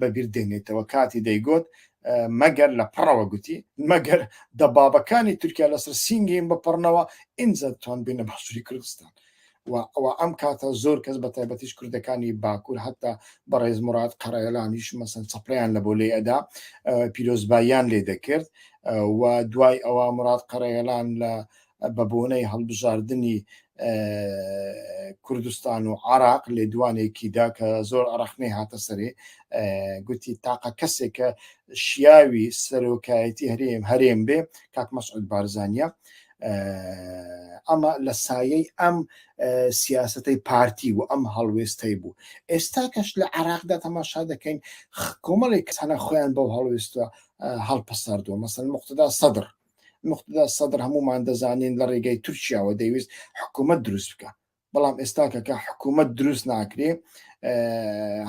بە بیر دێنێتەوە کاتی دەیگۆت مەگەر لە پڕەوە گوتی مەگەر دەبابەکانی تورکیا لەسەر سینگیم بپڕنەوە ئینجا توان بینە بەسووری کوردستان و ئەوە ئەم کاتە زۆر کەس بە تایبەتیش کوردەکانی باکوور هەتا بەڕێز مراد قەرەیەلانیش مەسن چپڕیان لە بۆ لێ ئەدا پیرۆزباییان لێ دەکرد و دوای ئەوە مراد قەرەیەلان لە بە بۆنەی هەڵبژاردنی کوردستان و عراق لێدوانێکیدا کە زۆر ڕەخنەی هاتە سەرێ گوتی تاقە کەسێکە شیاوی سەرۆکایەتی هەرێم هەرێم بێ کاک مەسعود بارزانە ئەمە لە سایەی ئەم سیاستەی پارتی و ئەم هەڵوێستەی بوو ئێستا کەش لە عراقدا تەماشا دەکەین کۆمەڵێک کەسانە خۆیان بەو هەڵوێستە هەڵپەسەردووە مەسەن مختدا سەدر موقتەدا سەدر هەموومان دەزانین لە ڕێگەی تورکیاوە دەیویست حکوومەت دروست بکە بەڵام ئێستاکەکە حکوومەت دروست ناکرێ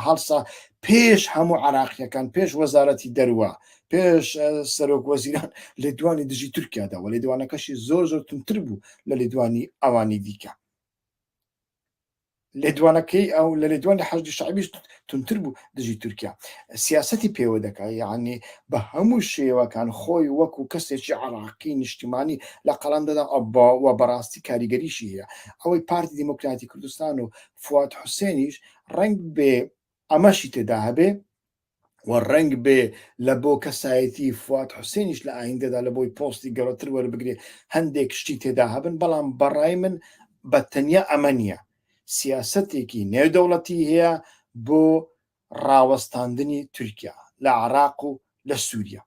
هەڵسا پێش هەموو عراقیەکان پێش وەزارەتی دەروە پێش سەرۆک وەزیران لێدوانی دژی تورکیاداوە لێدوانەکەشی زۆر زۆر تونتر بوو لە لێدوانی ئەوانی دیکە لێدوانەکەی ئەو لە لێدوانی حەشدی شعبیش تونتر بوو دژی تورکیا سیاستی پێوە دەکات یعنی بە هەموو شێوەکان خۆی وەکو کەسێکی عراقی نیشتیمانی لە قەڵام دەدا و بەڕاستی کاریگەریشی هەیە ئەوەی پارتی دیموکراتی کوردستان و فواد حوسێنیش ڕنگ بێ ئەمەشی تێدا هەبێ و ڕەنگ بێ لە بۆ کەسایەتی فواد حوسێنیش لە ئایندەدا لە بۆی پۆستی گەورەتر وەربگرێ هەندێک شتی تێدا هەبن بەڵام بەڕای من بە تەنیا ئەمە نییە سیاسەتێکی نێودەوڵەتی هەیە بۆ ڕاوەستاندنی تورکیا لە عراق و لە سووریا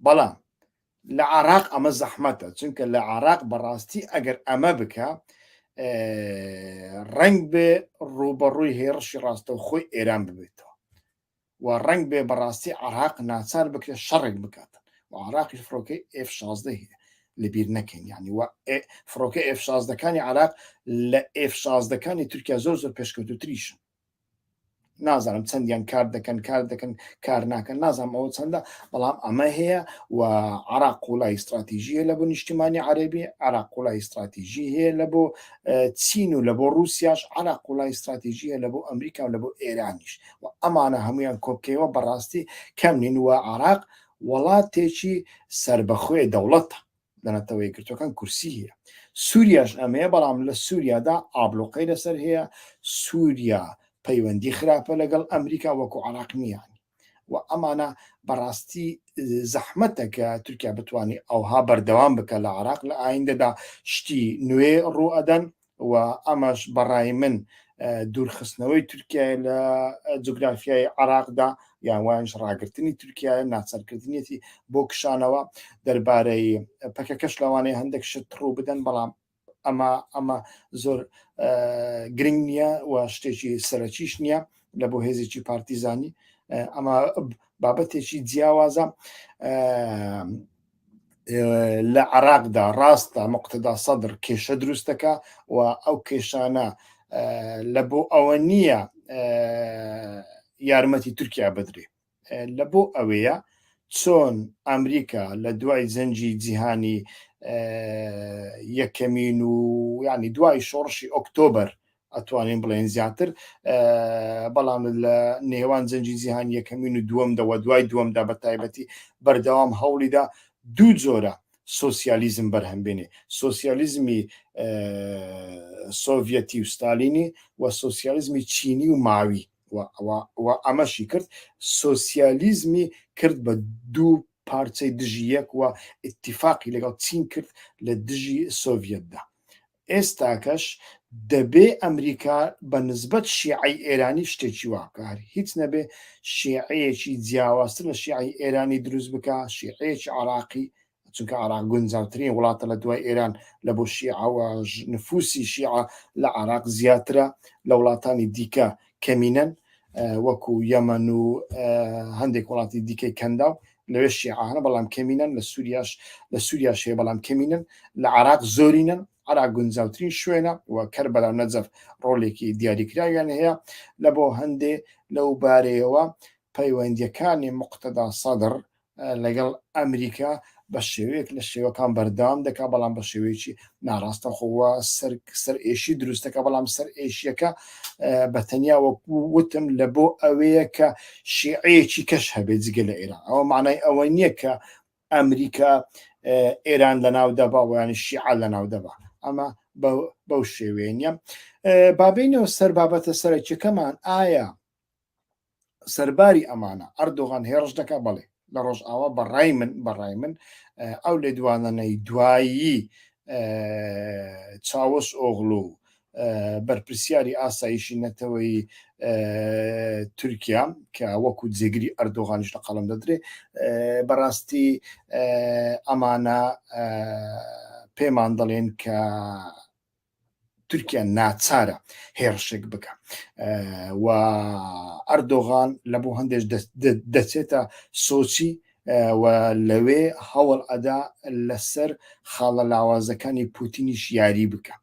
بەڵام لە عراق ئەمە زەحمەتە چونکە لە عراق بەڕاستی ئەگەر ئەمە بکە ڕنگ بێ ڕوبەڕووی هێڕشی ڕاستە و خۆی ئێران ببێتەوە و ڕنگ بێ بەڕاستی عراق ناچار بکرێت شەڕێک بکات و عراقی فڕۆکەی F 16 هەیە لەبیر نەکەین ینی وە فڕۆکە F 16ەکانی عراق لە F 16ەکانی تورکیا زۆر زۆر پێشکەوتوتریشن نازانم چەندیان کار دەکەن کار دەکەن کار ناکەن نازانم ئەوە چەندە بەڵام ئەمە هەیە و عراق قوڵای استراتیژیە لە بۆ نیشتیمانی عەربی عراق قوڵای استراتیژی هەیە لە بۆ چین و لە بۆ رووسیاش عراق قوڵای استراتیژیە لە بۆ ئەمریکا و لە بۆ ئێرانیش و ئەمانە هەمویان کۆکەوە بەڕاستی کەم نین و عراق وڵاتێکی سربەخۆی دەوڵەتە لە نەتەوە یەکگرتوەکان کورسی هەیە سووریاش ئەمەیە بەڵام لە سووریادا ئابلوقەی لەسەر هەیە سووریا پەیوەندی خراپە لەگەڵ ئەمریکا وەکو عراق نییان و ئەمانە بەڕاستی زەحمەتە کە تورکیا بتانی ئەوها بەردەوام بکە لە عراق لە ئایندەدا شتی نوێ ڕوئەدەن و ئەمەش بە ڕای من دوورخستنەوەی تورکیایە لە جوگرافیای عێراقدا یان وایش ڕاگرتنی تورکیایە ناچارکردنیەتی بۆ کشانەوە دەربارەی پەکەکەش لەوانەیە هەندێک شت ڕوو بدەن بەڵام ئەمە ئەمە زۆر گرنگ نییە و شتێکی سەرەکیش نییە لە بۆ هێزێکی پارتیزانی ئەمە بابەتێکی جیاوازە لە عراقدا ڕاستە مقتدا سەدر کێشە دروستەکە و ئەو کێشانە لە بۆ ئەوە نییە یارمەتی تورکیا بدرێ لە بۆ ئەوەیە چۆن ئەمریکا لە دوای زەنجی جیهانی یەکەمین و ینی دوای شۆڕشی ئۆکتۆبر ئەتوانین بڵێین زیاتر بەڵام لە نێوان جەنجی جیهان یەکەمین و دووەم دەوە دوای دووەمدا بە تایبەتی بەردەوام هەوڵیدا دوو جۆرە سوسیالیزم بەرهەم بێنێ سوسیالیزمی سۆڤەتی و ستالینی و سوسیالیزمی چینی و ماوی و ئەمەشی کرد سوسیالیزمی کرد بە دوو پارچەی دژی یەک وە اتفاقی لەگەڵ چین کرد لە دژی سۆڤەتدا ئێستاکەش دەبێ ئەمریکا بە نسبەت شیعەی ئێرانی شتێکی وا بکا، هەر هیچ نەبێ شیعەیەکی جیاوازتر لە شیعەی ئێرانی دروست بکا، شیعەیەکی عێراقی، چونکە عێراق گونجاوترین وڵاتە لە دوای ئێران لە بۆ شیعە و نفوسی شیعە لە عێراق زیاترە لە وڵاتانی دیکە کەمینەن وەکو یەمەن و هەندێک وڵاتی دیکەی کەنداو لەوێ شیعانە بەڵام کەمینەن لە سووریاش لە سووریا شێ بەڵام کەمینن لە عراق زۆرینن عراق گونجاوترین شوێنە و کەر بەلا نەجەف ڕۆلێکی دیاریکراویان هەیە لە بۆ هەندێ لەو بارەیەوە پەیوەندیەکانی مقتەدا سەدر لەگەڵ ئەمریکا بە شێوەیەک لە شێوەکان بەردەوام دەکا بەڵام بە شێوەیەکی ناڕاستەخۆوە سەر سەر ئێشی دروستەکە بەڵام سەر ئێشیەکە بە تەنیا وەکو وتم لە بۆ ئەوەیە کە شیعەیەکی کەش هەبێت جگە لە ئێران ئەوە معنای ئەوە نییە کە ئەمریکا ئێران لە ناو دەبا ویانی شیعە لە ناو دەبا ئەمە بەو شێوێنە بابینەوە سەر بابەتە سەرەکیەکەمان ئایا سەرباری ئەمانە ئەردۆغان هێڕش دەکا بەڵێ لە ڕۆژئاوا بەڕای من بەڕای من ئەو لێدوانەنەی دوایی چاوەش ئۆغلو و بەرپرسیاری ئاسایشی نەتەوەی تورکیا کە وەکو جێگری ئەردۆغانیش لە قەڵم دەدرێ بەڕاستی ئەمانە پێمان دەڵێن کە تورکیا ناچارە هێڕشێک بکە و ئەردۆغان لە بۆ هەندێک دەچێتە سۆچی و لەوێ هەوڵ ئەدا لەسەر خاڵە لاوازەکانی پوتینیش یاری بکە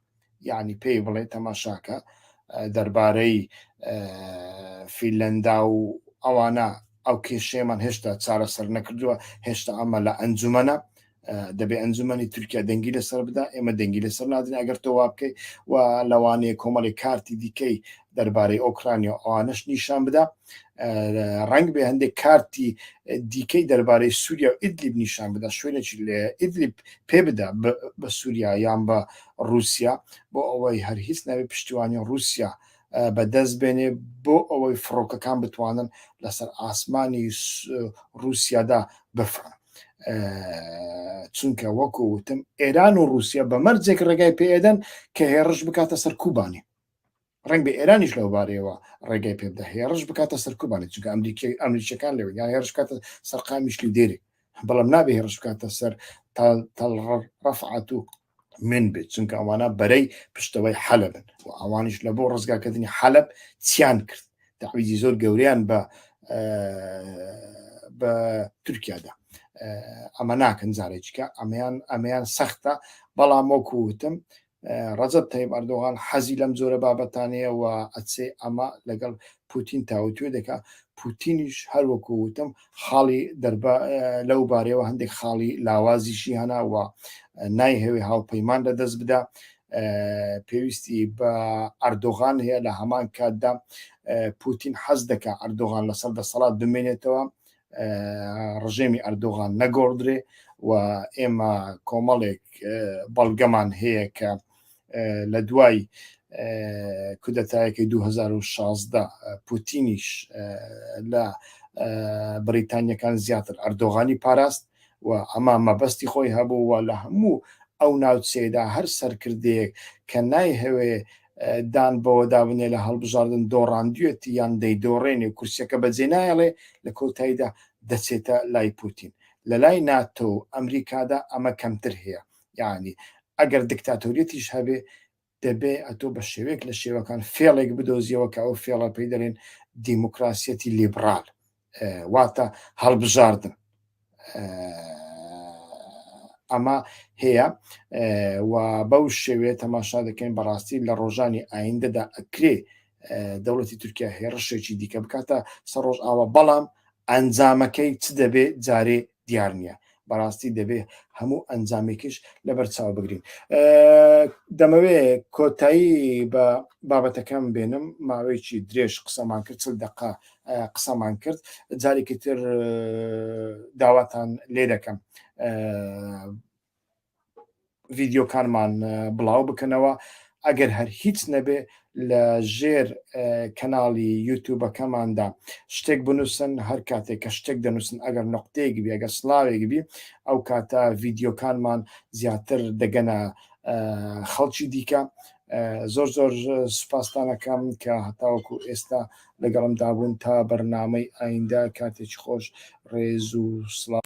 یعنی پێی بڵێ تەماشاکە دەربارەی فیلەندا و ئەوانە ئەو کێشەیەمان هێشتا چارەسەر نەکردووە هێشتا ئەمە لە ئەنجومەنە دەبێ ئەنجومەنی تورکیا دەنگی لەسەر بدا ئێمە دەنگی لەسەر نادرێن ئەگەر تۆ وا بکەیت و لەوانەیە کۆمەڵی کارتی دیکەی دەربارەی ئۆکرانیا ئەوانش نیشان بدا ڕنگ بێ هەندێک کارتی دیکەی دەربارەی سووریا و ئیدلیب نیشان بدا شوێنێکی لە ئیدلیب پێ بدا بە سووریا یان بە رووسیا بۆ ئەوەی هەر هیچ ناوی پشتیوانی رووسیا بەدەست بێنێ بۆ ئەوەی فڕۆکەکان بتوانن لەسەر ئاسمانی رووسیادا بفرن چونکە وەکو وتم ئێران و رووسیا بە مەرجێک ڕێگای پێدەن کە هێڕش بکاتە سەر کوبانی ڕنگ بە ئێرانیش لەوبارەیەوە ڕێگای پێ بدە هێڕش بکاتە سەر کوبانی چونکە ئەمریکی ئەمریکیەکان لەوە یان هێرش کاتە سەرقامیشلی دێری بەڵام نابێ هێڕش بکاتە سەر تاڵڕ ڕفعات و من بێت چونکە ئەوانە بەرەی پشتەوەی حەلبن و ئەوانیش لە بۆ ڕزگاکردنی حەلب چیان کرد داویزی زۆر گەوریان بە بە تورکیادا ئەمە ناکەن جارێکە ئەمەیان ئەمەیان سەختە بەڵام وەکووتم ڕەجب تەیب ئەردۆغان حەزی لەم جۆرە بابەتانەیە و ئەچێ ئەمە لەگەڵ پوتین تاوتوێ دەکا پوتینیش هەروەکو وتم خاڵی دەربا لەو بارەیەوە هەندێک خاڵی لاوازیشی هەناوە نایهەوێ هاوپەیمان لە دەست بدا پێویستی بە ئەردۆغان هەیە لە هەمان کاتدا پوتین حەز دەکە ئەردۆغان لەسەر دەسەڵات بمێنێتەوە ڕژێمی ئەردۆغان نەگۆڕدرێ و ئێمە کۆمەڵێک بەڵگەمان هەیە کە لە دوای کودەتایەکەی 2016 پوتینیش لە بریتانیەکان زیاتر ئەردۆغانی پاراست و ئەما مەبەستی خۆی هەبوو و لە هەموو ئەو ناوچەیەدا هەر سەرکردەیەک کە نایهەوێ دان بەوەدا بنێ لە هەڵبژاردن دۆڕاندوێتی یان دەیدۆڕێنێ و کورسەکە بەجێ نایڵێ لە کۆتاییدا دەچێتە لای پوتین لە لای ناتۆ ئەمریکادا ئەمە کەمتر هەیە یعنی ئەگەر دکتاتۆریەتیش هەبێ دەبێ ئەتۆ بە شێوێک لە شێوەکان فێڵێک بدۆزیەوە کە ئەو فێڵە پێی دەێن دیموکراسیەتی لیبرال واتە هەڵبژاردن ئەمە هەیە و بەو شێوێ تەماشا دەکەین بەڕاستی لە ڕۆژانی ئایندەدا ئەکرێ دەوڵەتی تورکیا هێڕشێکی دیکە بکاتە سەر ڕۆژ ئاوا بەڵام ئەنجامەکەی چ دەبێت جارێ دیار نییە بەڕاستی دەبێ هەموو ئەنجامێکیش لەبەر چاو بگرین دەمەوێ کۆتایی بە بابەتەکەم بێنم ماوەیەکی درێژ قسەمان کرد چل دقا قسەمان کرد جارێکی تر داواتان لێ دەکەم ڤیدیۆکانمان بڵاو بکەنەوە ئەگەر هەر هیچ نەبێ لە ژێر کەناڵی یوتوبەکەماندا شتێک بنووسن هەر کاتێک کە شتێک دەنووسن ئەگەر نقطەیەک بێ ئەگەر سلااوێک بی ئەو کاتە ڤیددیوکانمان زیاتر دەگەنە خەڵکی دیکە زۆر زۆر سوپاستانەکەم کە هەتاوەکو ئێستا لەگەڵمدا بوون تا بەرنامەی ئایندە کاتێکی خۆش ڕێز و سڵاو.